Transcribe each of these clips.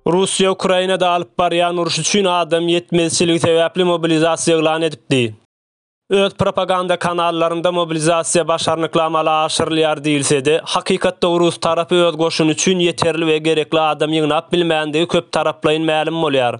Russiýa Ukrainada alyp barýan uruş üçin adam ýetmezçiligi sebäpli mobilizasiýa yglan edipdi. Öz propaganda kanallarynda mobilizasiýa başarnykly amala aşyrylýar diýilse-de, hakykatda rus tarapy öz goşuny üçin ýeterli we gerekli adam ýygnap bilmändigi köptaraplaýyn mälim bolýar.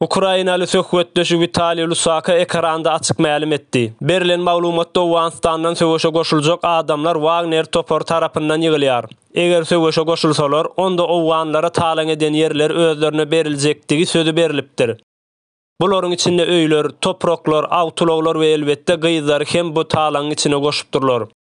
Ukrainaly söhbetdeşi Witaliý Lusaka ekranda açyk mälim etdi. Berilen maglumatda Owganystandan söweşe goşuljak adamlar Wagner topary tarapyndan ýygylýar. Eger söweşe goşulsalar, onda owganlara talaň eden ýerler özlerine beriljekdigi sözi berlipdir. Bularyň içinde öýler, topraklar, awtoulaglar we elbetde gyzlary hem bu talaňyň içine goşupdyrlar.